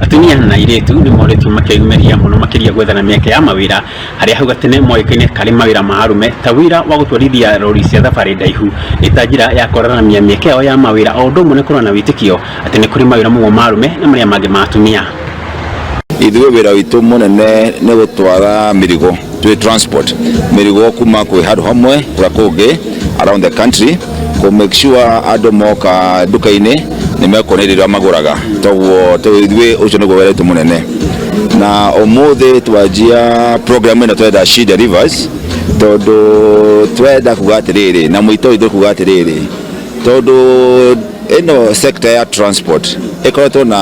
Atumia na airĩtu nĩ moretwo makĩyumĩria mũno makĩria gwethana mĩeke ya mawĩra arĩa hau gatene moĩkaine karĩ mawĩra ma arũme ta wĩra wa gũtwarithia rori cia thabarĩ ndaihu ĩ ta njĩra ya kũraramia mĩeke yao ya mawĩra o ũndũ ũmwe na kũrora na wĩtĩkio atĩ nĩ kũrĩ mawĩra mamwe ma arũme na marĩa mangĩ ma atumia. ithuĩ wĩra witũ mũnene nĩ gũtwara mĩrigo twĩ transport mĩrigo kuma kwĩ handũ hamwe na kũngĩ around the country kũ make sure andũ moka nduka-inĩ nĩ mekuona indo iria magũraga toguo tũ- ithuĩ ũcio nĩguo wĩra witũ mũnene na ũmũthĩ twanjia program ĩno twenda she delivers tondũ twenda kuga atĩrĩrĩ na mũito witũ kuga atĩrĩrĩ tondũ ĩno sector ya transport ĩkoretwo na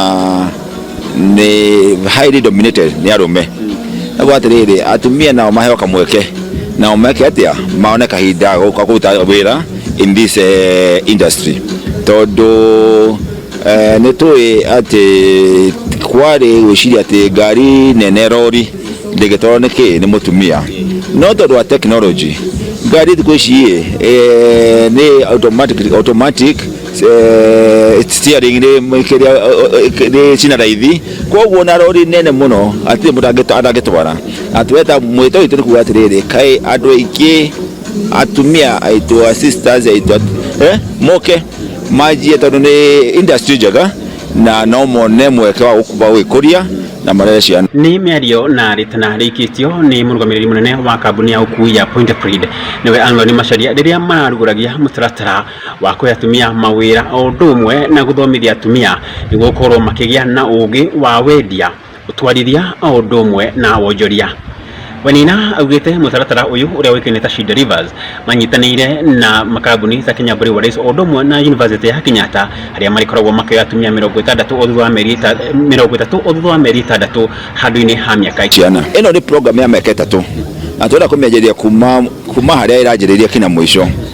nĩ highly dominated nĩ arũme naguo atĩrĩrĩ atumia nao maheo kamweke nao meke atĩa maone kahinda ga gũka kũruta wĩra in this eh, industry tondũ eh, nĩ tũĩ atĩ kwarĩ gwĩciria atĩ ngari nene rori ndĩngĩtwarwo nĩ kĩ nĩ mũtumia no tondũ wa technology ngari thikũ ici ĩ eh, nĩ automatic, automatic eh, steering rĩ kĩrĩa eh, eh, rĩ cina raithi koguo na rori nene mũno atirĩ mũndũ angĩtwa- atangĩtwara atueta mwĩto witũ nĩ kuga atĩrĩrĩ kaĩ andũ aingĩ atumia aitũ a sisters aitũ at- eh, moke manjie tondũ nĩ industry njega na no mone mweke wa gũk- wa gwĩkũria na marere ciana nĩ mĩario na rĩtana rĩikĩtio nĩ mũrũgamĩrĩri mũnene wa kambuni ya ũkui ya Point of Read nĩwe Anthony Macharia rĩrĩa mararugũragia mũtaratara wa kũhe atumia mawĩra o ũndũ ũmwe na gũthomithia atumia nĩguo gũkorwo makĩgĩa na ũgĩ wa wendia, ũtwarithia o ũndũ ũmwe na wonjoria. Wainaina augĩte mũtaratara ũyũ ũrĩa ũĩkaine ta She Delivers manyitanĩire na makambuni ta Kenya Breweries o ũndũ ũmwe na yunivasĩtĩ ya Kenyatta arĩa marĩkoragwo makĩoya atumia mĩrongo ĩtandatũ o thutha wa mĩeri ĩta- mĩrongo ĩtatũ o thutha wa mĩeri ĩtandatũ handũ-inĩ ha mĩaka ciana ĩno nĩ program ya mĩaka ĩtatũ na tũrenda kũmĩanjĩrĩria kuma kuma harĩa ĩranjĩrĩria kinya mũico